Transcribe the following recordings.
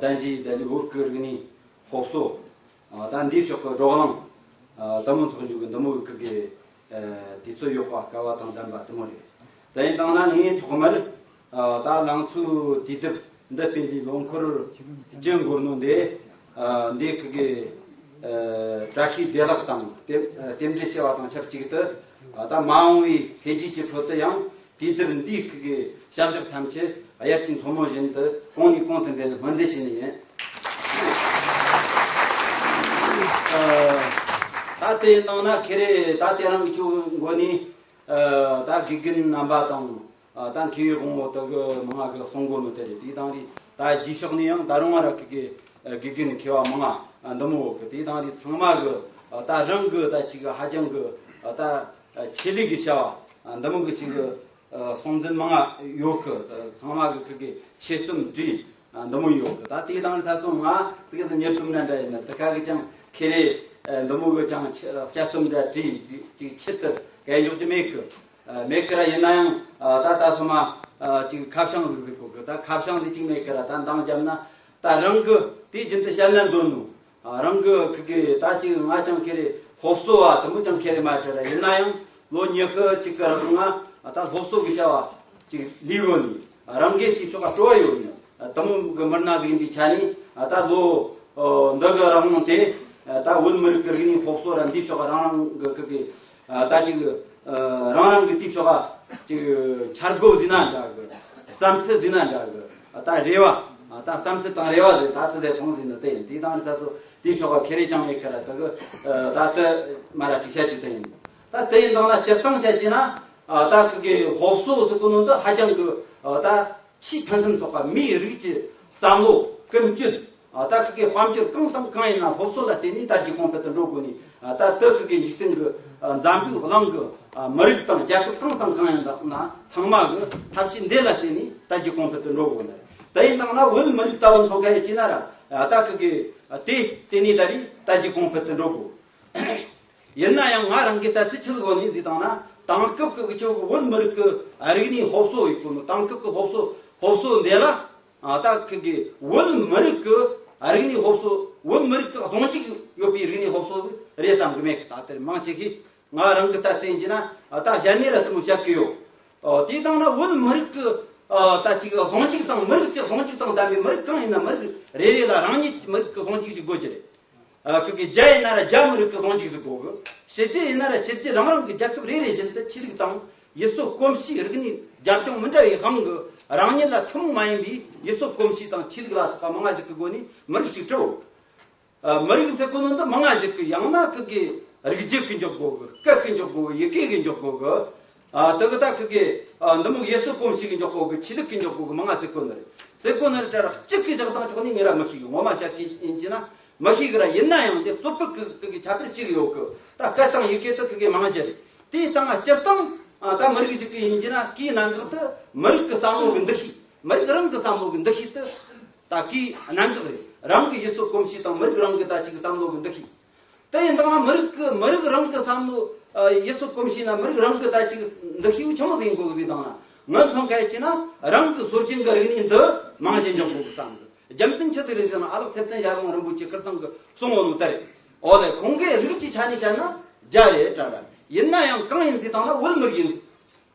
དང་བཞི་ཡི་ལྡི་བུར་ཀུ་རིགས་ནི། ཧོབ་སོ། དང་འདིའི་ཕྱོགས་ཀྱི་འབྲོག་གླང། དུམ་མོ་ཚོགས་འཇུག་གི་འདུམ་བུ་ཀུ་ཀའི། དུས་ཚོད་གཡོག་པ་ཀ་བ་དང་ལྡན་པ་དུམ་མོ་རེད། དེ་ཡིན་སྟངས་ན་ངས་ཐོག་མར། ད་ལང་ཚོའི་དུས་དེབ་འདི་སྤེལ་རྒྱུའི་ལོ་འཁོར་བཅུ་འགོར་ནོ་འདས། འདིའི་ཀུ་ཀའི། བཀྲ་ཤིས་བདེ་བླག་དང། རྟེན་འབྲེལ་བྱེ་བ་དང་ཆབས་ཅིག་ཏུ། ད་མ་འོངས་བའི་འཕེལ་རྒྱས་ཀྱི་ཁྲོད་དུ་ཡང། དུས་བསྟུན་དུས་བཀག་གི་བྱ་གཞག་ཐམས་ཅད་དབྱར་གྱི་མཚོ་མོ་བཞིན་དུ་གོང་ནས་གོང་དུ་འཕེལ་བའི་སྨོན་འདུན་ཞུ་ནི་ཡིན། ད་དེ་གནང་ན་ཁེ་རེ་ད་དེ་རང་གི་ཆུ་འགོ་ནས་ད་དགེ་རྒན་རྣམ་པ་དང་ད་མཁས་པའི་དགོང་མོ་དག་མང་ང་གི་གསུང་འགོ་མི་དེ་རེད་དེ་དང་རེ་ད་རྗེས་ཕྱོགས་ནས་ཡང་ད་རང་ང་ར་གི་གི་དགེ་རྒན་མཁས་བ་མང་ང་འདུ་མོ་གི་དེ་དང་རེ་ཚང་མ་གི་ད་རང་གི་ད་ཅིག་ཧ་ཅང་གི་ད། ཆེད་ལས་ཀྱི་བྱ་བ་འདི་མུ་གུ་བྱིན་གྱིས་སྲོང་བཙན་མ་ཡོ་གི་ཚང་མ་གི་ཁག་གི་ཆེད་རྩོམ་བྲིས་འདི་མོ་ཡོད་གི་ད་དེའི་དང་ལྷ་སྲུང་ང་ཙིག་གི་གཉེར་ཐུབ་ན་འདྲ་ཡིན་ན་དེ་ཁག་གི་ཀྱང་ཁེ་ལས་འདི་མོ་གི་ཀྱང་དཔྱད་རྩོམ་འདྲ་བྲིས་ཅིག་ཆེད་དུ་གས་འཇོག་ཅི་མེད་གི་མེད་གི་ར་ཡིན་ན་ཡང་ད་ད་སོ་མ་ཅིག་ཁ་བྱང་ཟིག་ཟིག་གོ་གི་ད་ཁ་བྱང་ཟིག་ཅིག་མེད་གི་ར་ད་འདང་བརྒྱབ་ན་ད་རང་གི་དེ་བཞིན་དུ་བཤད་ན་འདོད་ནུ། རང་གི་ཁུལ་གྱི་ད་ཅིག་ང་ཅང་ཁེ་རེ་སློབ་གསོ་བ་དུ་མོ་ཅང་ཁེ་རེ་མ་བྱས་ལ་ཡིན་ན་ཡང་ལོ་ཉི་ཤུ་གཅིག་གི་རིང་ང་ད་སློབ་གསོ་གི་བྱ་བ་ཅིག་ལས་ཡོལ་ནས་རང་འགན་ཞིག་ཆོ་ག་སྤྲོ་བ་ཡོད་ཡིན་དུ་མོ་གི་མི་སྣ་ཡིན་པའི་ཆ་ནས་ད་ལོ་འདི་གི་རང་དབང་དེ་ད་བོད་མི་རིགས་ཀྱི་རིག་གནས་སློབ་གསོ་ར་འདིའི་ཆོ་ག་རང་རང་གི་ཁུལ་གྱི། ད་ཅིག་རང་རང་གི་སྟེགས་སོགས་ཅིག་འཆར་སྒོ་བཟོས་ན་འདྲ་གི། བསམ་ཚུལ་བཟོས་ན་འདྲ་གི། ད་རེ་བ། ད་བསམ་ཚུལ་དང་རེ་བ་ཟེར་ད་ཚིག་ཟེར་ཐོང་ཟེར་འདི་ལྟ་ཡིན་དེ་དང་དེ་ད་ཚོ་དེ་ཆོག་པ་ཁེ་རེ་ཅང་མེད་ཁེ་ལ་ད་གི། ད་ད་མ་ར་ཅིག་བྱ་ཅིག་ད་ཡིན། ད་དེ་ཡིན་དང་ན་སྤྱིར་བཏང་བྱ་ཅིག་ན། ད་ཁོང་གི་ཧོབ་བསོ་བསོ་ཀུ་ནོ་འདི་ཧ་ཅང་གི། ད་ཕྱིས་ཕན་ཚུན་ཚོགས་པ་མིའི་རིགས་ཀྱི་བསམ་བློ་ཀུན་སྤྱོད། ད་སུ་ཀའི་དཔལ་འབྱོར་གང་བསམ་གང་ཡིན་ན་སློབ་གསོ་ལ་བརྟེན་ནས་ད་ཅི་གོང་འཕེལ་དུ་འགྲོ་དགོས་ནས་ད་ད་སུ་ཀའི་འཇིག་ཚུལ་གྱི་འཛམ་བུའི་གླིང་གི་མི་རིགས་དང་རྒྱལ་ཁབ་གང་བསམ་གང་ཡིན་ན་ཚང་མ་གི་ཐབས་ཤེས་འདི་ལ་བརྟེན་ནས་ད་ཅི་གོང་འཕེལ་དུ་འགྲོ་དགོས་ནས་དེ་ཡི་སྟེང་ན་བོད་མི་རིགས་ལྟ་བུ་འཚོ་མཁན་ཡོད་ཅེ་ན་ར་ད་སུ་ཀའི་དེ་བརྟེན་ནས་ད་རེས་ད་ཅི་གོང་འཕེལ་དུ་འགྲོ་དགོས། ཡིན་ན་ཡང་ང་རང་གིས་ད་ཚིག་ཁྲིད་སྒོ་ནས་འདི་དང་ན་དེང་སྐབས་ཀྱི་ཁྱོད་ཀྱི་བོད་མི་རིགས་ཀྱི་རིག་གནས་སློབ་གསོ་ཡོད་པོ་ནི་དེང་སྐབས་ཀྱི་སློབ་གསོ་སློབ་གསོ་འདི་ལ། ད་གི་བོད་མི་རིགས་ཀྱི་རིག་གནས་སློབ་གསོ་བོད་མི་རིགས་ཀྱི་གདོང་གཅིག་ཡོད་པའི་རིག་གནས་སློབ་གསོ་རེད་བསམ་གྱི་མེད། ད་དེར་མང་ཆེ་ཤས་ང་རང་གི་ལྟ་ཚུལ་ཡིན་གྱི་ན་ད་གཞན་ནས་ལ་བསྟུད་མར་བཤད་ཀྱི་ཡོད། དེ་ལྟ་ན་བོད་མི་རིགས་ཀྱི་ད་གི་གདོང་གཅིག་དང་མི་རིགས་ཀྱི་གདོང་གཅིག་དང་ལྡན་པའི་མི་རིགས་གང་ཡིན་ན་མི་རིགས་རེ་རེ་ལ་རང་ཉིད་ཀྱི་མི་རིགས་ཀྱི་གདོང་གཅིག་ཅིག་དགོས་ཀྱི་རེད། ཁུལ་གྱི་རྒྱ་ཡིན་ན་ར་རྒྱ་མི་རིགས་ཀྱི་གདོང་འཇིགས་སུ་འགོག་གི། ཕྱི་རྒྱལ་ཡིན་ན་ར་ཕྱི་རྒྱལ་རང་རང་གི་རྒྱལ་ཁབ་རེ་རེ་བཞིན་དུ་ཆོས་ལུགས་དང་ཡུལ་སྲོལ་གོམས་གཤིས་རིག་གནས་རྒྱབ་ལྗོངས་མི་འདྲ་བའི་དབང་གིས་རང་ཉིད་ལ་ཐུན་མོང་མ་ཡིན་པའི་ཡུལ་སྲོལ་གོམས་གཤིས་དང་ཆོས་ལུགས་ལ་སོགས་པ་མང་ཞིག་གི་སྒོ་ནས་མི་རིགས་ཤིག་གྲུབ། མི་རིགས་ཟེར་དགོས་ན་འདི་མང་ཞིག་གི་ཡང་ན་ཁུལ་གྱི་རིགས་རྒྱུད་ཀྱི་འཇོག་སྒོ་གི་སྐད་ཀྱི་འཇོག་སྒོ་ཡི་གེ་གི་འཇོག་སྒོ་གི། དེ་གི་དག་གི། འདི་མུག་ཡེ་སོ་སྐོམ་ཞིག་གི་འཇོག་པོ་གི་ཆི་ལུག་གི་འཇོག་པོ་གི་མ་ང་སེ་ཀོ་ནི་རེད། སེ་ཀོ་ནི་རེད་དྲ་ར་གཅིག་གི་བཞག་དང་ཆོག་ནི་ཉི་ར་མི་ཤིག་གི་ངོ་མ་ཆ་གིས་ཡིན་གྱི་ན། མི་ཤིག་གི་ར་ཡིན་ན་ཡང་དེ་སོ་པི་གི་གི་ཆ་ཕེར་ཅིག་ཡོག་གི་ད་སྐད་དང་ཡི་གེ་དག་གི་གི་མང་ཞེ་རེད། དེའི་ད་ང་སྤྱིར་བཏང། ད་མི་རིགས་ཅིག་གི་ཡིན་གྱི་ན་གིས་ནང་འགག་དུ་མི་རིགས་གི་བསམ་བློ་གི་འདུ་ཤེས། མི་རིགས་རང་གི་བསམ་བློ་གི་འདུ་ཤེས་དུ། ད་གིས་ནང་འགག་རེད། རང་གི་ཡེ་སོ་སྐོམ་ཞིག་དང་མི་རིགས་རང་གི་ད་ཅིག་བསམ་བློ་གི་འདུ་ཤེས། དེ་ཡིན་དང་ན་མི་རིགས་ཀྱི་མི་རིགས་རང་གི་བསམ་བློ་ཡིད་ཚོ་སྐོམ་ཞིག་ན་མི་རིགས་རང་གི་ལྟ་ཞིག་འདི་ཤེས་ཡོན་ཆེན་པོ་ཟིན་དགོས་གི་དང་ན་མི་མཐུན་ཁ་ཅིག་ན་རང་གི་ཟུར་ཆེན་གྱི་རིག་གནས་འདི་མང་ཞིག་འཇོག་དགོས་གི་བསམ་གི་རྒྱུ་མཚན་ཅི་ཟིག་རེད་ཟེར་ན་ཨ་ལགས་ཐེབས་ཚན་ཞྭ་དབོན་རིན་པོ་ཆེ་ཁིར་ཚང་གི་གསུང་ངོ་ནོ་དེར་ཨོ་ལེ་ཁོང་གིས་རིགས་ཀྱི་ཆ་ནས་བཤད་ན་རྒྱ་རེད་དྲ་རེད་ཡིན་ན་ཡང་གང་ཡིན་ཟེར་དང་ན་བོད་མི་རིགས་ཡིན།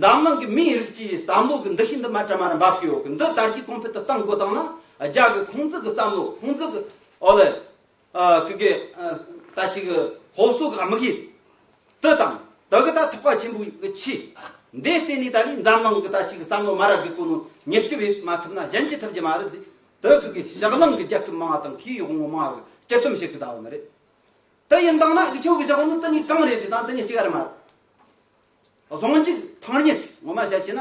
འཛམ་གླིང་གི་མིའི་རིགས་ཀྱིས་བསམ་བློ་གི་འདུ་ཤེས་འདི་མ་དྲན་པར་འབབ་ཀྱི་ཡོད་གི་འདི་ད་ཕྱིས་གོང་འཕེལ་དུ་གཏང་དགོས་དང་ན་རྒྱ་གི་ཁོང་ཚུགས་ཀྱི་བསམ་བློ་ཁོང་ཚུགས་ཀྱི་འོ་ལེ། ཀུ་ཀེ། ད་ཕྱིས་ཀྱི་ཧོ་སོ་གི་དམིགས་ཡུལ་དེ་དང་དེ་གི་ད་ཐུགས་ཀ་ཆེན་པོ་ཡི་ཆེ། འདས་བསད་ནས་ད་ལིས་འཛམ་གླིང་གི་ད་ཕྱིས་ཀྱི་བསམ་བློ་མ་རབས་ཀྱི་སྐུ་ནུ་ཉེར་སྤྱི་བས་མ་ཐུབ་ན་གཞན་གྱིས་ཐུབ་ཀྱི་མ་རེད་དེ་ཀུ་ཀེ་ཞག་གླིང་གི་རྒྱལ་ཁབ་མང་བ་དང་ཁོའི་དབང་བོ་མང་བ་གི་སྤྱི་སེམས་ཞིག་གི་ད་བ་མི་རེད་དེ་ཡིན་དང་ན་ཁྱོད་ཀྱི་ཞག་ནུ་དེ་གཉིས་གང་རེད་དེ་དང་དེ་གཉིས་གཅིག་རེད་མ་རེད། རྫོང་གཅིག་ཐང་གཉིས་སུ་ངོ་མ་བཤད་ཅེ་ན།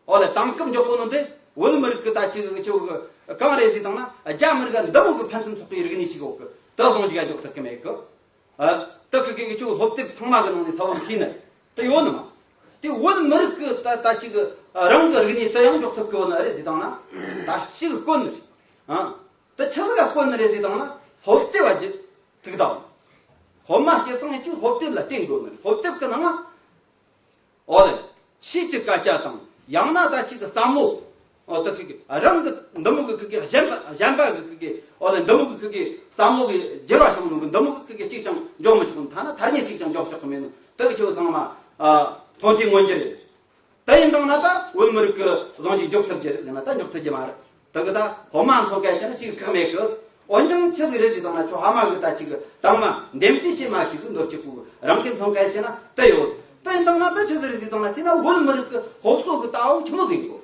འོ་ལེ་དེང་སྐབས་མགྱོགས་པོ་ནང་དུ་བོད་མི་རིགས་ཀྱི་ད་ཅིག་ཅིག་འོག་གི་གངས་རི་ཞིག་དང་ན་རྒྱ་མི་རིགས་འདི་འོག་གི་ཕན་ཚུན་ཚོགས་པའི་རིག་གནས་ཞིག་གི་འོག་གི་དེ་རྫོང་ཅིག་ཡ་འགྱོགས་ཐུབ་ཀྱི་མེད་གི། དེ་གི་གི་ཅིག་སློབ་དེབ་ཚང་མ་གི་ནང་ནས་ཚ་བོ་མཁྱིན་ནི་དེ་ཡོད་ནི་མ། དེ་བོད་མི་རིགས་ཀྱི་ད་ད་ཅིག་རང་གི་རིག་གནས་དེ་ཡང་འགྱོགས་ཐུབ་ཀྱི་ཡོད་ནི་རེད་དེ་དང་ན་ད་ཅིག་དཀོན་ནི་རེད། དེ་ཕྱི་ལོ་ཡང་སྐོར་ནི་རེད་ཅེས་དང། ཧོབ་སྟེབས་བ་བཞི་ཐུགས་དམ། ཧོབ་མ་བྱེད་སོང་ནས་ཅུང་ཧོབ་སྟེབས་ལ་བརྟེན་དགོས་ནི་རེད་ཧོབ་སྟེབས་ཀྱི་ནང། ཨོ་ལེ། ཕྱིས་ཀྱི་སྐད་ཆ་དང་ཡང་ན་ད་ཕྱིས་ཀྱི་བསམ་བློ། ཨོ་ཏི་ཁི་ཁི་རང་གི་འདི་མུག་གི་ཁི་ཁི་གཞན་པ་གཞན་པ་གི་ཁི་ཁི་ཨོ་ལེ་འདི་མུག་གི་ཁི་ཁི་བསམ་བློ་གི་སྒྱུར་བ་བྱུང་མི་འདུག་འདི་མུག་གི་ཁི་ཁི་གཅིག་ཀྱང་འཇོག་མི་ཆོག་ཐ་ན་ཐ་སྙད་གཅིག་ཀྱང་འཇོག་ཆོག་གི་མེད་ནི་དེ་གི་ཆོས་ཚང་མ། མཐོང་ཐོས་མངོན་གྱི་རེད། དེ་ཡིན་དང་ན་ད་བོད་མི་རིགས་ཀྱི་གཟོང་འཇུག་འཇོག་ཐུབ་རྒྱུ་ཡིན་ན་ད་འཇོག་ཐུབ་རྒྱུ་མ་རེད་དེ་གི་ད་ཧོ་མ་འཚོ་གལ་ཆེ་ན་ཅིག་ཁག་མེད་གི་འོན་ཀྱང་ཆི་ཟིག་རེད་ཅིག་དང་ན་ཁྱོ་ཧ་མ་གི་ད་ཅིག་དང་མ་འདེམས་གསེས་བྱེད་མ་ཞིག་གི་འདོད་ཀྱི་སྐུ་རང་གི་འཚོ་གལ་ཆེ་ན་དེ་ཡོད་དེ་ཡིན་དང་ན་ད་ཆི་ཟིག་རེད་ཅིག་དང་ན་དེ་ན་བོད་མི་རིགས་ཀྱི་ཧོབ་སོ་གི་ད་འོ་ཆི་མོ་ཟིག་ཡོད།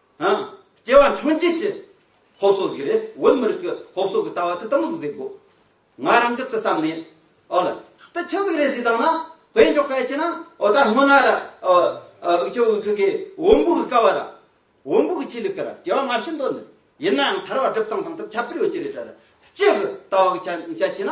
སྐྱེ་བ་འཕྲང་རྒྱས་ཞེས་སློབ་གསོ་ཟིག་རེད་བོད་མི་རིགས་ཀྱི་སློབ་གསོ་གི་ལྟ་བ་དེ་ལྟ་མོ་ཟིག་དགོས་ང་རང་གི་བསམ་ནས་ཨོ་ལ་དེ་ཆི་ཟིག་རེད་ཟིག་དང་ན་བོད་མགྱོགས་སྐད་ཆེ་ན་ཨོ་ད་སྔོ་ན་ར་ཨུ་ཅོ་ཨུ་ཁི་ཁི་འོམ་བུ་གི་ཀ་བ་ར་འོམ་བུ་གི་ཆི་ལི་ཀི་ར་སྐྱེ་བ་མ་ཕྱིན་དོ་ནི་ཡིན་ན་ཡང་ཐར་བ་སྒྲུབ་སྟངས་དང་དེ་ཁྱབ་པིར་ཡོད་ཀྱི་རེད་ད་ར་སྐྱེ་གི་ལྟ་བ་གི་ཆ་ཆེ་ན་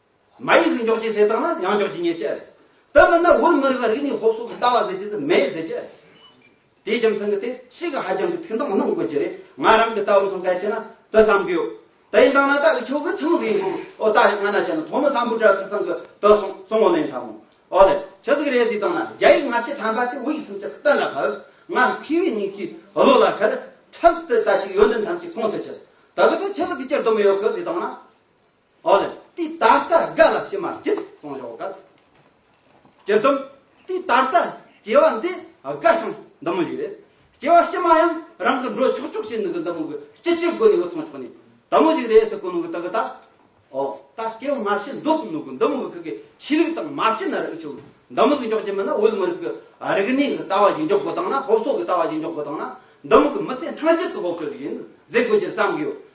མ་ཡིག་གི་འཇོག་བྱེད་ཟེར་དང་ན་ཡང་འཇོག་བྱེད་ཉེས་བྱས་རེད། དེ་མིན་ན་འུར་མི་རིགས་ལ་རིག་གནས་སློབ་གསོ་གི་ལྟ་བ་ཟེར་བྱེད་དེ་མེད་ཟེར་བྱེད་རེད། དེའི་རྒྱུ་མཚན་གྱི་དེ་སྲིད་ཀྱི་ཧ་ཅང་གི་ཐེང་དང་གནང་དགོས་ཀྱི་རེད་ང་རང་གི་ལྟ་བར་སོང་གལ་ཆེ་ན་དེ་བསམ་གི་ཡོད། དེ་ཡིན་དང་ན་ད་གི་ཆོས་ཕུལ་ཚང་གི་ཡིན་ཨོ་ད་ཞིག་སྔ་ན་བྱས་ན་ཐོག་མི་ཚང་བུ་དྲ་ཚིགས་ཚང་གི་དེ་སོང་སོང་ངོ་ལེན་ཐ་མོ་ཨོ་ལེ་ཆི་ཟིག་རེད་དེ་དང་ན་རྒྱ་ཡིག་སྔ་ཕྱི་ཕྲན་པ་དེ་འུ་ཡིག་སུམ་ཅུ་གཏན་ལ་ཕབ་ང་ཕི་བའི་མྱིག་གི་བློ་ལ་ཁེར་ཁྲལ་དེ་ད་ཞིག་ཡོད་འདི་མཚམས་ཀྱི་མཐོང་ཐོས་ཆེད་དེ་གི་དེ་ཆི་ཟིག་གི་སྐྱེར་སྡོམ་ཡོད་གི་དེ་དང་ན། ཨོ་ལེ། དེ་ད་ལྟ་སྒ་ལ་ཕྱི་མར་བྲིས་སོང་ཞོག་ག་ལ། ཇི་ཙམ། དེ་ད་ལྟ་སྐྱེ་བ་འདི་དགའ་ཞིང་འདི་མོ་ཞིག་རེད། སྐྱེ་བ་ཕྱི་མ་ཡང་རང་གི་འགྲོ་ཆོག་ཆོག་བྱས་ནས་གི་འདི་མོ་གི་སྐྱིད་སྐྱིད་སྒོ་ནས་གི་ཚོང་ཆོག་ནས་དལ་མོ་ཞིག་རེད་ཟེར་གོ་ནོ་གི་ད་གི་ད། ཨོ། ད་སྐྱེ་བ་མ་ཕྱི་འདུག་ནོ་གི་འདི་མོ་གི་གི་ཕྱི་རིགས་དང་མ་ཕྱི་ན་རིགས་ཆུ་འདི་མོ་གི་འཇོག་རྒྱུ་མིན་ན་འོལ་མོ་རིགས་གི་རིག་གནས་གི་ལྟ་བ་ཞིག་འཇོག་དགོས་དང་ན་སློབ་གསོ་གི་ལྟ་བ་ཞིག་འཇོག་དགོས་དང་ན་འདི་མོ་གི་མི་ཚེ་འཕྲང་བཅད་ཀི་སློབ་གསོ་ཞིག་ཡིན་ཟེར་དགོས་རྒྱུ་བསམ་གི་ཡོད།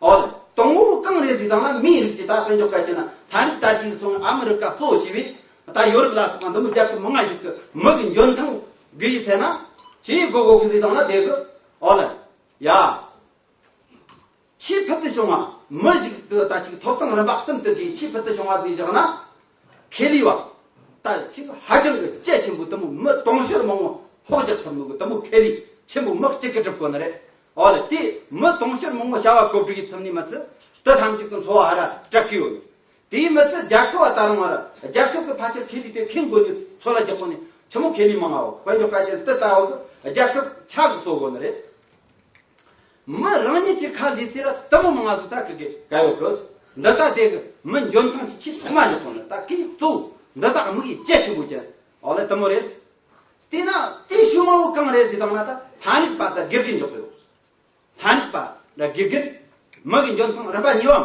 ཨོ་ལེ། དང་བོ་རུ་གངས་རིའི་རི་ཐང་ལ་མིའི་རིགས་ཀྱིས་ད་དཔོན་ཆོ་ག་བྱས་ན་ད་རིག་ད་ཅིའི་སོང་ཨ་མི་རི་ཀ་གཙོ་བོ་བྱས་པས་ད་ཡོ་རུབ་ལ་སོགས་པ་འདི་མི་རྒྱ་ཁྱི་མི་ང་ཞིག་གི་མི་གི་འཇོན་ཐང་དགོས་ཡི་ཚད་ན། ཞེས་ཡི་གོ་གོ་གི་རི་ཐང་ལ་བསྡད་དགོས། ཨོ་ལེ། ཡ། ཆེས་ཕུལ་དུ་བྱུང་བ། མི་ཞིག་གི་ད་ཅིའི་ཐོབ་ཐང་རིམ་པ་གསུམ་དུ་དགོས་ཆེས་ཕུལ་དུ་བྱུང་བ་དེ་བཞག་ན། ཁེ་ལི་བ། ད་ལྟ་ཆེས་ཧ་ཅང་གི་དཔྱད་ཆེན་པོ་དུམ་བུ་མི་སྟོང་བཤེར་མང་བོ་ཧོར་རྒྱ་ཚོར་མི་གོ་དུམ་བུ་ཁེ་ལི་ཆེན་པོ་མི་གཅིག་གི་གྲུབ་དཀོན་ནི་རེད་ཨོ་ལེ་དེ་མི་སྟོང་བཤེར་མང་བོ་བྱ་བ་གོ་གྲུ་ཡི་ཚུལ་ནས་མི་ཚུལ་དུ་ཐམས་ཅད་ཀྱི་འཚོ་བ་ཧ་ར་སྐྲག་གི་ཡོད་དེའི་མི་ཚུལ་རྒྱ་ཁི་བ་ད་རུང་ཨ་ར་རྒྱ་ཁི་བའི་ཕ་ཆེར་ཁེ་ལི་དེ་ཁེང་དགོས་ནི་ཚོ་ལ་རྒྱག་གོ་ནི་ཆུ་མོ་ཁེ་ལི་མང་བ་བོ་དཔལ་འབྱོར་དཀའ་ཅན་དེ་ལྟ་བུ་གི་རྒྱ་ཁི་ཆག་གི་གསོ་དགོས་ནི་རེད། མི་རང་ཉིད་ཀྱི་ཁ་ལས་སེ་ར་ལྟ་བུ་མི་ང་ཚོ་ད་གི་གི་ག་ཡོ་གི། འདི་ལྟ་དེ་གི་མི་འཇོན་ཐང་གྱི་ཆེས་ཐོག་མ་ལས་ཐོག་ནས་ད་གི་གཙོ་བོ་འདི་ད་མི་གི་སྐྱེ་ཆེན་པོ་ཀྱི་འོག་ལས་ལྟ་མོ་རེད། དེ་ན་དེ་ཞུ་མ་བོ་གང་རེད་ཅེས་དང་ན་ད་ལྷ་མིག་པ་ད་གི་གི་འཇོག་གི་ཡོ། ལྷ་མིག་པ་ད་གི་གི་མི་གི་འཇོན་ཐང་རིམ་པ་གཉིས་བའམ།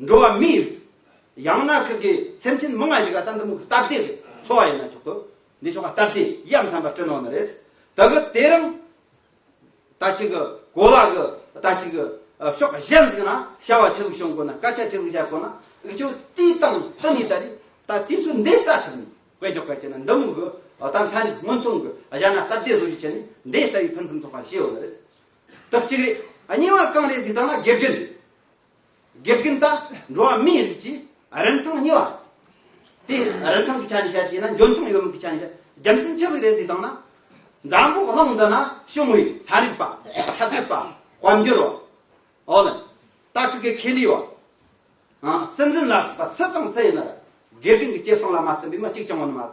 འགྲོ་བ་མི་ཡི་ཡང་ན་ཁག་གི་སེམས་ཅན་མི་ལྔ་ཞིག་ག་ད་འདི་མུག་སྟབས་བདེ་འཚོ་བ་ཡིན་ན་ཆོག་གོ། འདི་ཆོ་ག་སྟབས་བདེ་ཡབ་མཚན་པ་སྤྲིན་ནོར་ནི་རེད། ད་གི་དེ་རིང་ད་ཅིག་གི་གོ་ལ་གི་ད་ཅིག་གི་ཕྱོགས་གཞན་ཞིག་ན་བྱ་བ་ཆེ་ཟུག་བྱུང་དགོས་ན་སྐད་ཆ་ཆེ་ཟུག་བྱ་དགོས་ན་འི་ཆོ་དེའི་སྟངས་སྟུ་ནི་ད་རེད་ད་དེ་ཚོ་འདས་ས་ཞིག་ནི་དཔེ་འཇོག་ག་བྱེད་ན་འདི་མུག་གི་ད་མཚན་སྔོན་ཚུང་གི་གཞན་ན་སྟབས་བདེ་བཟོ་རྒྱུ་བྱེད་ནི་འདས་ས་ཡི་ཕུན་ཚུན་ཚོགས་པ་ཞེས་ཡོད་ནི་རེད། དག་ཅིག་རེད་གཉིས་བ་གང་རེད་འདི་ཚང་མ་དགེ་བརྒྱུད་དགེ་རྒན་དང་འགྲོ་བ་མིའི་རིགས་ཀྱི་རིན་ཐང་གཉིས་པ། དེ་རིན་ཐང་གི་ཆ་ནས་བཤད་ཅེ་ན་འཇོན་ཐང་ཡོད་མེད་ཀྱི་ཆ་ནས་བཤད་རྒྱུ་མཚན་ཅི་ཟིག་རེད་འདི་དང་ན། འཛམ་བུ་གླིང་འདི་ན་ཤི་མོ་ཡི་ཚན་རིག་པ། ཆ་ཚད་པ། དཔལ་འབྱོར་བ། ཨོ་ལེ། ཏཱ་ཁི་ཀའི་ཁེ་ལི་བ། སྲིད་འཛིན་ལ་སོགས་པ་སུ་དང་སུ་ཡིན་ན་རེད་དགེ་རྒན་གྱི་སྐྱེ་སྲིང་ལ་མ་བརྩོན་པའི་མི་གཅིག་ཀྱང་ཡོད་ནི་མ་རེད།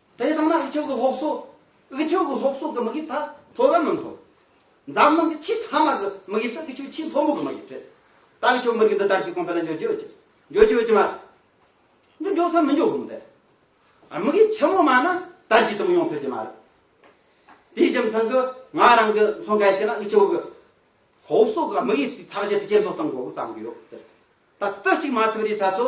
དེ་ལྟ་ན་འུ་ཅོག་གི་སློབ་གསོ། འུ་ཅོག་གི་སློབ་གསོ་གི་མི་གིས་ད་མཐོ་རམ་མི་མཐོ། འཛམ་གླིང་གི་ཆེས་མཐའ་མ་གི་མི་གིས་ད་འུ་ཅོག་ཆེས་མཐོ་མོ་གི་མི་གིས་བྲེལ། ད་འུ་ཅོག་མི་གིས་འདི་ལྟར་གྱི་གོང་འཕེལ་ལ་འཇོག་རྒྱུ་ཡོད་ཀྱི། འཇོག་རྒྱུ་ཡོད་ཀྱི་མ་རེད། འདི་འཇོག་སའི་མི་འཇོག་གི་མི་འདེད། མི་གིས་ཆེན་མོ་མ་ན་ད་ཅི་ཙམ་ཡོང་ཐུབ་ཀྱི་མ་རེད། དེའི་རྒྱུ་མཚན་གི་ང་རང་གི་མཚོན་གལ་ཆེ་ན་འུ་ཅོག་གི་སློབ་གསོ་གི་མི་གིས་དེ་ཐག་བཅད་དེ་ཇེ་མཐོ་གཏང་དགོས་གི་བརྩམས་གི་ཡོད། ད་ལྟ་གཅིག་མ་ཐུབ་རེའི་ཐད་དུ།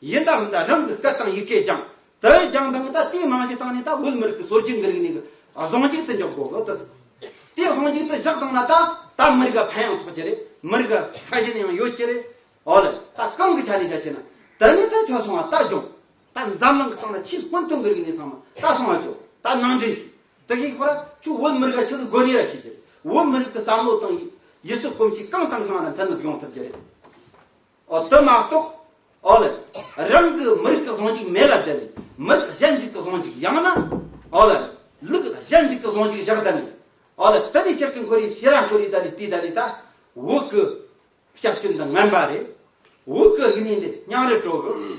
ཡིན་ད་འོན་ད་རང་གི་སྐད་དང་ཡི་གེ་སྦྱང། དེ་སྦྱང་དང་ནི་ད་རྩིས་མང་ཞིག་བཏང་ནས་ད་བོད་མི་རིགས་ཀྱི་སྲོལ་རྒྱུན་གྱི་རིག་གནས་ཀྱི་གཟུངས་གཅིག་སུ་འཇོག་དགོས་གི་ད། དེ་གཟུངས་གཅིག་སུ་བཞག་དང་ན་ད་ད་མི་རིགས་ཀྱི་ཕན་ཡང་ཐོགས་ཀྱི་རེད་མི་རིགས་ཀྱི་ཁ་ཞེ་ནི་ཡང་ཡོད་ཀྱི་རེད། འོ་ལེ། ད་གང་གི་ཆ་ནས་བྱ་ཞེ་ན། དེ་ནི་ད་ཁྱོད་སོང་བ་ད་སྦྱོང། ད་འཛམ་གླིང་གི་སྟེང་ན་ཆེས་སྔོན་ཐོན་གྱི་རིག་གནས་ཚང་མ་ད་སོང་བ་སྐྱོ། ད་ནང་འདྲེན་བྱོས། དེ་ཤེས་ཁོ་ར་ཁྱོད་བོད་མི་རིགས་ལ་ཆེས་སུ་དགོས་ངེས་ར་ཤེས་ཀྱི་རེད་བོད་མི་རིགས་ཀྱི་བསམ་བློ་དང། ཡུལ་སྲོལ་གོམས་གཤིས་གང་དང་གང་ར་མཐའི་ནུབ་ཡོང་ཐུབ་ཀྱི་རེད། འོ་དོ་མ་གཏོགས། ཨོ་ལེ། རང་གི་མི་རིགས་ཀྱི་བཟང་འཇིག་མེ་ལ་བསྡད་ནས་མི་རིགས་གཞན་ཞིག་གི་བཟང་འཇིག་ཡང་ན། ཨོ་ལེ། ལུགས་གཞན་ཞིག་གི་བཟང་འཇིག་བཞག་ད་ནི། ཨོ་ལེ་དེ་ནི་ཞབས་ཀྱི་འཁོར་ཡིག་ཤེས་ར་འཁོར་ཡིག་ད་ནི་དེ་ད་ནི་ད། འུ་གི། ཞབས་ཀྱི་འདི་ངན་པ་རེད། འུ་གི་ཡིན་ནི་འདི་སྙིང་རེ་དྲོ་གི།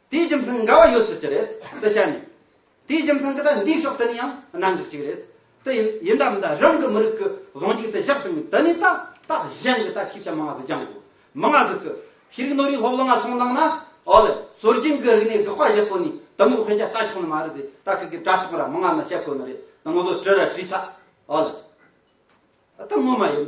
དེའི་རྒྱུ་མཚན་འགལ་བ་ཡོད་སྲིད་ཀྱི་རེད་དེ་བཤད་ནས། དེའི་རྒྱུ་མཚན་གྱི་ད་འདིའི་ཕྱོགས་དེ་ནས་ཡང་གནང་གི་གཅིག་རེད་དེ། ཡིན་ད་མིན་ད་རང་གི་མི་རིགས་ཀྱི་གཟུང་འཇུག་དེ་བཞག་བཏང་ནས་དེ་ནས་ད་ད་གཞན་གྱི་ད་ཤེས་བྱ་མང་གཟུགས་རྒྱང་གོ། མང་གཟུགས་ཀྱི་ཤེས་རིག་ནོར་རིག་སློབ་ལོ་ང་ཚོང་བླངས་ན། ཨོ་ལེ། སྲོལ་རྒྱུན་གྱི་རིག་གནས་དགག་པ་བཞག་གོ་ནས་དེ་མུར་དཔེ་ཆ་ལྟ་ཆོག་ནི་མ་རེད་དེ། ད་ཁྱེད་ཀྱི་དྲ་ཐོག་ར་མང་ང་ནི་བཤད་ཁོ་ནི་རེད་དེ་ང་ཚོ་བྲིས་ར་བྲིས་ཚ། ཨོ་ལེ། ད་དེ་ངོ་མ་ཡིན།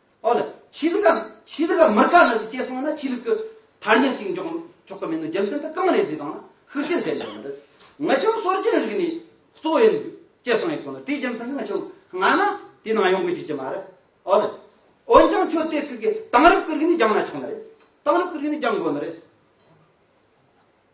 ཨོ་ལ། ཆོས་ལུགས་ཀ། ཆོས་ལུགས་ཀ་མི་དགའ་ནི་ཅེས་གསུངས་ན་ཆོས་ལུགས་ཀྱི་མཐར་འགྱིང་ཞིག་འཇོག་ཆོག་གི་མིན་ནོ་རྒྱུ་མཚན་དུ་གང་རེད་ཟེར་དང་ན་ཤུགས་རྐྱེན་ཐེབས་ཡོད་མི་འདུག་ངི་ཆོས་གསོ་རྒྱུའི་རིག་གནས་གཙོ་བོ་ཡིན་དགོས་ཅེས་གསུངས་ཡོད་དགོས་ལ་དེའི་རྒྱུ་མཚན་ངི་ཆོས་སྔ་ན་དེའི་ནང་ཡོང་དགོས་ཀྱི་ཅི་མ་རེད་ཨོ་ལ། འོན་ཀྱང་ཁྱོད་དེ་སྐད་གིས་དེང་རབས་ཀྱི་རིག་གནས་སྦྱང་ན་ཆོག་ནི་རེད་དེང་རབས་ཀྱི་རིག་གནས་སྦྱང་དགོས་ནི་རེད།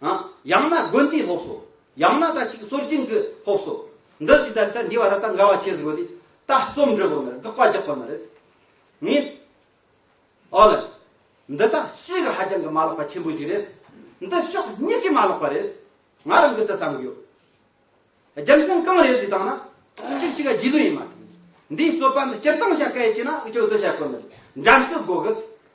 ཡང་ན་དགོན་དེའི་སློབ་གསོ། ཡང་ན་ད་ཅིག་སྲོལ་རྒྱུན་གྱི་སློབ་གསོ། འདི་ཇི་ལྟར་ལྟར་འདྲིས་བ་ར་ད་འགལ་བ་བྱེད་ཟིག་གོ་དེ། ད་རྩོམ་འབྲི་དགོས་ནི་རེད་དགག་པ་རྒྱག་དགོས་ནི་རེད། ངས། ཨོ་ལེ། འདི་ད་ཤི་གི་ཧ་ཅང་གི་མ་ལགས་པ་ཆེན་པོ་ཞིག་རེད། འདི་ཕྱོགས་གཉིས་ཀྱི་མ་ལགས་པ་རེད། ང་རང་གི་འདི་བསམ་གི་ཡོད། རྒྱུ་མཚན་གང་རེད་ཅེས་དང་ན། གཅིག་གཅིག་ག་རྗེས་ལུས་ཡིན་མ་ཐག། འདིའི་རྩོད་པ་འདི་སྤྱིར་བཏང་བྱ་དཀའ་ཡི་ཆེ་ན་ཅུང་ཟད་བྱ་དཀོན་ནི་རེད། འགྲན་རྩོད་དགོས་གི།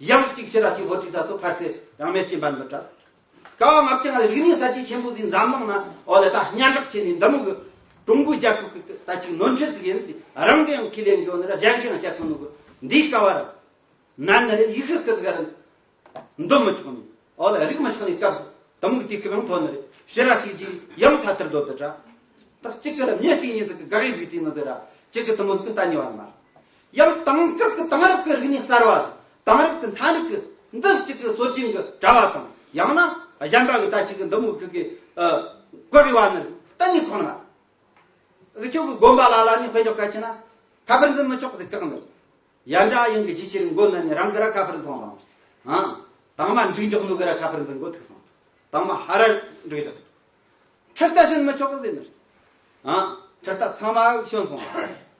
དབྱངས་གཅིག་ཕྱི་ལ་གཅིག་ཧོར་གཅིག་ཚ་ཚོ་ཕར་ཟད་རང་མལ་སྤྱིན་པ་འདི་དྲག། ཀ་བ་ལྔ་བཅུ་ལྔ་ལས་རིག་གནས་ས་ཆའི་ཆེན་པོ་འདིའི་འཛམ་གླིང་ན་འོ་ལེ་ད་སྙན་གྲགས་ཆེ་ནས་འདི་མོ་གི། ཀྲུང་གོའི་རྒྱལ་ཁབ་ཀྱི་ད་ཅིག་ནོར་འཁྲུལ་ཟིག་ཡིན་ཏེ་རང་གི་ཡང་ཁས་ལེན་འགྱོ་ནི་ར་གཞན་གྱིས་ཡང་བཤད་ཐུབ་ནོ་གི། འདིའི་ཀ་བ་ར། ན་ནི་རེ་ཡིག་ཧི་ཀི་ཟིག་ར། འདོན་མི་ཆོག་ནི་འོ་ལེ་རིག་མི་ཆོག་ནི་སྐབས་སུ་དི་མོ་གི་དུས་སྐབས་ཡང་ཐོ་ནི་རེ་ཕྱི་ར་གཅིག་གཅིག་དབྱངས་ཚ་ཚེར་རྡོ་འདི་དྲག། ད་གཅིག་གི་ར་མྱི་གཅིག་གཉིས་ཟིག་གི་དགག་དབྱེ་བུའི་དུས་ནི་འདི་ར་གཅིག་གི་དུ་མོ་ཟིག་གི་ད་ཉེ་བ་ནི་མ། ཡང་དེང་སྐབས་ཀྱི་དེང་རབས་ཀྱི་རིག་གནས་གསར་བ་ལ་དེང་རབས་ཀྱི་མཐའ་མིག་གིས་འདི་གཅིག་གི་སྲོལ་རྒྱུན་གྱི་དྲ་བ་དང་ཡང་ན་གཞན་པ་གི་ད་ཅིག་གི་འདི་མུ་ཁྱུད་ཀྱི་བཀོད་པའི་བར་ནི་གཏན་ནས་མཚུངས་ལ། ཁྱོད་ཀྱི་དགོན་པ་ལ་ལ་ནི་དཔེ་འཇོག་གལ་ཆེ་ན་ཁ་ཕེར་འཛིན་མི་ཆོག་གི་བཀག་འདུག་ཡར་འདྲ་ཡིན་གི་རྒྱུ་ཕྱིར་མགོ་ན་ནི་རང་གི་ར་ཁ་ཕེར་འཚོང་དང། དང་མ་འགྲིག་འཇོག་ནུ་གི་ར་ཁ་ཕེར་འཛིན་མགོ་ཐུག་སོང་དང་མ་ཧ་ར་འགྲིག་འཇོག་ཁྲི་རྟ་བྱིན་མི་ཆོག་གི་འཛིན་ནི་ཁྲི་རྟ་ཚང་མ་བྱོན་སོང།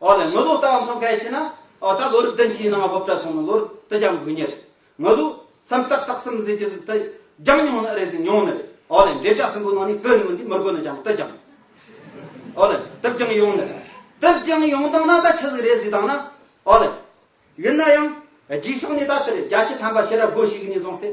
འོ་ལེ་ངུ་ཟུག་ལྟ་བ་མཐོང་གལ་ཆེ་ན། འོ་ད་ལོ་རིགས་ལྡན་ཕྱིའི་སྣང་བ་སློབ་གྲྭ་སོང་ན་ལོ་རིགས་དུ་སྦྱང་དགོས་ཉེར། ངུ་ཟུག། སེམས་སྟག་སྟག་སེམས་ཟིལ་གྱི་ཟིལ་དུ་སྦྱང་མྱོང་ནི་རེད་ཟིག་མྱོང་ནི་རེད། འོ་ལེ་འབྲས་དྲ་སྲིན་པོའི་ནང་ནས་ཀུན་ངུ་འདི་མི་དགོས་ན་སྦྱང་དུ་སྦྱང། འོ་ལེ་དུ་སྦྱང་ཡོང་ནི་རེད། དུ་སྦྱང་ཡོང་སྟངས་ན་ད་ཆི་ཟིག་རེད་ཟིག་བཏང་ན། འོ་ལེ། ཡིན་ན་ཡང། རྒྱུགས་ཕྱོགས་ནས་ད་ཆི་རེད་རྒྱ་ཆེ་ཐམ་པ་ཤེས་རབ་སྒོ་ཞིག་གི་ནས་བཟུང་སྟེ།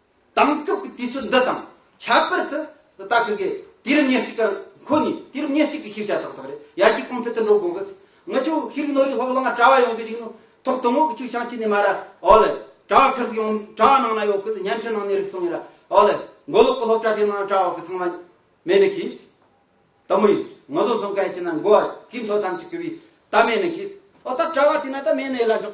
དྭངས་སྐྱོབ་ཀྱི་དུས་ཚོད་འདི་དང་ཁྱད་པར་དུ་ལྟ་གི་འགལ། དུས་རབས་ཉེར་གཅིག་ཀ་ཁོ་ནས་དུས་རབས་ཉེར་གཅིག་པའི་ཤེས་བྱ་ཚགས་ཚགས་རེད་ཡར་རྒྱས་གོང་འཕེལ་དུ་འགྲོ་དགོས་གི། ངི་ཆོས་ཤེས་རིག་ནོར་རིག་ཧོབ་ལང་དྲ་བ་ཡོང་པའི་རིག་ནོ་ཐོག་སྟོང་ངོགས་ཀྱི་ཆུ་བྱང་ཅི་ནས་མ་ར་ཨོ་ལེ། དྲ་བ་ཁེར་གི་ཡོང་དྲ་བ་ནང་ན་ཡོག་གི་བརྙན་འཕྲིན་ནང་ནས་རིག་སོང་ངེ་ར་ཨོ་ལེ། མགོ་ལོག་གི་སློབ་གྲྭ་དེ་ནང་དྲ་བ་གི་ཚང་མ་མེད་ནི་གིས། ད་མུ་ཡིན་ངོ་ཟོ་ཟོ་མཁན་གྱི་ནང་མགོ་བ་གིས་མཚོ་ཐམས་ཅད་གི་བུས་ད་མེད་ནི་གིས། ཨོ་ད་དྲ་བ་དེ་ནང་ད་མེད་ནི་ཡེ་ལ་འཇོག།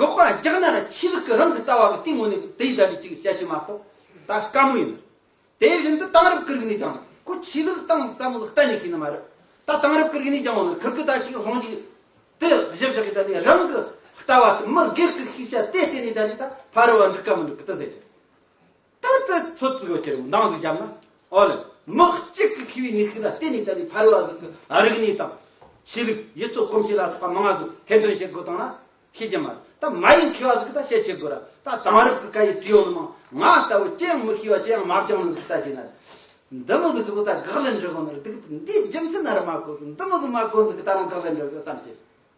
འགོག་པ་རྒྱག་ན་ཆོས་ལུགས་ཀྱི་རང་གི་རྩ་བ་གི་སྟེང་ངོས་ནས་དེ་བཞག་ནས་ཅིག་བྱེད་ཀྱི་མ་གཏོགས་ད་དཀའ་མོ་ཡིན། དེ་བཞིན་དུ་དེང་རབས་ཀྱི་རིག་གནས་ཀྱང་ཁོ་ཆོས་ལུགས་ཀྱི་སྟེང་ཙམ་ལ་གཏན་ནས་ཤེས་ནི་མ་རེད། ད་དེང་རབས་ཀྱི་རིག་གནས་ཀྱང་ངོ་ནས་ཁིར་ཁི་ད་ཞིག་ལྷོང་ཞིག་དེ་བཞི་བཞག་གིས་ད་ནི་རང་གི་ལྟ་བ་དང་མི་སྒེར་གྱི་ཤེས་བྱ་དེ་བརྟེན་ནས་ད་ནི་ད་ཕར་བ་འགྲིག་ག་མི་འགྲིག་གི་ད་ཟེར་གྱི་རེད། ད་ལྟ་ཚོ་ཚིག་འགོད་ཀྱི་རིགས་འདང་ཟིག་བརྒྱབ་ན་ཨོ་ལེ། མི་གཅིག་གི་ཁེ་བའི་གནས་ཚུལ་ལ་བལྟས་ནས་བསྟན་པའི་ཕ་རོལ་བ་ཟིག་གི་རིགས་གནས་དང། ཆོས་ལུགས་ཡུལ་ཚོ་གོམས་གཤིས་ལ་སོགས་པ་མང་བ་ཟིག་ཐེར་འདོན་བྱེད་དགོས་དོན་ལ་ཤེས་ཀྱི་མ་རེད་ད་མ་ཡིན་མཁས་བ་ཟིག་གི་ད་བཤད་བྱེད་དགོས་ར་ད་དེང་རབས་ཀི་སྐད་ཡིག་བྲིས་ཡོང་ནི་མང་ང་ལྟ་བུ་ཅི་ཡང་མི་ཤེས་བ་ཅི་ཡང་མ་སྦྱང་ནི་ཟིག་ད་བྱས་ན་རེད། འདི་མི་གི་ཟིག་གི་ད་དགག་ལན་འཇོག་གི་ནི་རེད་དེ་གི་ད་འདིའི་རྒྱུ་མཚན་ཨ་ར་མ་གོ་ཟིག་འདི་མི་གི་མ་གོ་ཟིག་གི་ད་རང་དགག་ལན་འཇོག་གི་བསམ་གྱི།